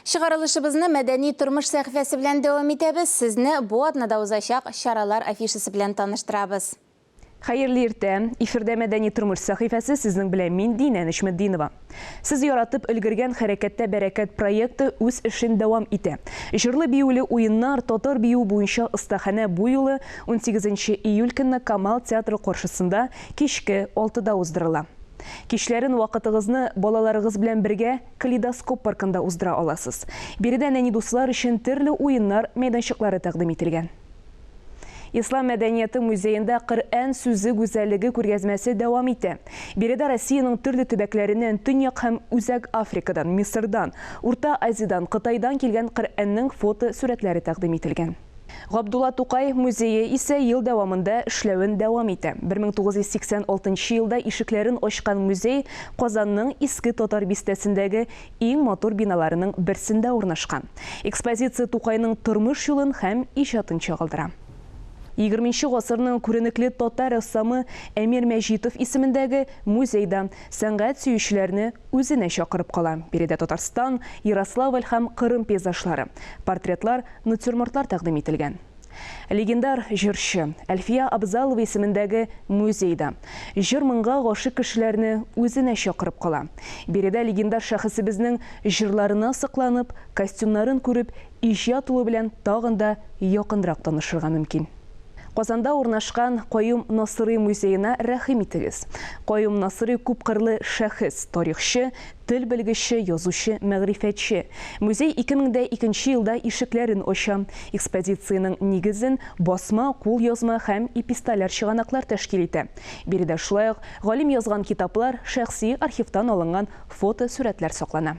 Чыгарылышыбызны мәдәни тормыш сәхифәсе белән дәвам итәбез, сезне бу атнада узачак чаралар афишасы белән таныштырабыз. Хәерле иртә! Эфирдә мәдәни тормыш сәхифәсе, сезнең белән мин, Динә Нечметдинова. Сез яратып өлгергән Хәрәкәттә бәрәкәт проекты үз эшен дәвам итә. Җырлы-биюле уеннар, татар биюе буенча остаханә бу юлы унсигезенче июль көнне Камал театры каршысында кичке алтыда уздырыла. Кичләрен вакытыгызны балаларыгыз белән бергә Калейдоскоп паркында уздыра аласыз. Биредә нәни дуслар өчен төрле уеннар мәйданчыклары тәкъдим ителгән. Ислам мәдәнияте музеенда Коръән сүзе гүзәллеге күргәзмәсе дәвам итә. Биредә Россиянең төрле төбәкләреннән, Төньяк һәм Үзәк Африкадан, Мисырдан, Урта Азиядән, Кытайдан килгән Коръәннең фото-сурәтләре тәкъдим ителгән. Габдулла Тукай музее исә ел дәвамында эшләвен дәвам итә. 1986 нчы елда ишекләрен ачкан музей Казанның Иске Татар бистәсендәге иң матур биналарының берсендә урнашкан. Экспозиция Тукайның тормыш юлын һәм иҗатын чагылдыра. Егерме нче гасырның күренекле татар рәссамы Әмир Мәҗитов исемендәге музей да сәнгать сөючеләрне үзенә чакырып кала, биредә Татарстан, Ярославль һәм Кырым пейзажлары, портретлар, Натюрмортлар тәкъдим ителгән. Легендар җырчы Әлфия Абзалова исемендәге музей да җыр-моңга гашыйк кешеләрне үзенә чакырып кала. Биредә легендар шәхесебезнең җырларына сокланып, костюмнарын күреп, иҗат улы белән тагын да якынрак танышырга мөмкин. Казанда урнашкан Каюм Насыйри музеена рәхим итегез. Каюм Насыйри күпкырлы шәхес, тарихчы, тел белгече, язучы, мәгърифәтче. Музей 2002 нче елда ишекләрен ача. Экспозициянең нигезен басма, кулъязма һәм эпистоляр чыганаклар тәшкил итә. Биредә шулай ук галим язган китаплар, шәхси архивтан алынган фотосурәтләр саклана.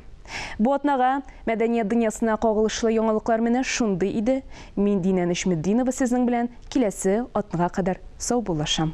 Бу атнага мәдәният дөньясына кагылышлы яңалыклар менә шундый иде. Мин Динә Нечметдинова сезнең белән киләсе атнага кадәр саубуллашам.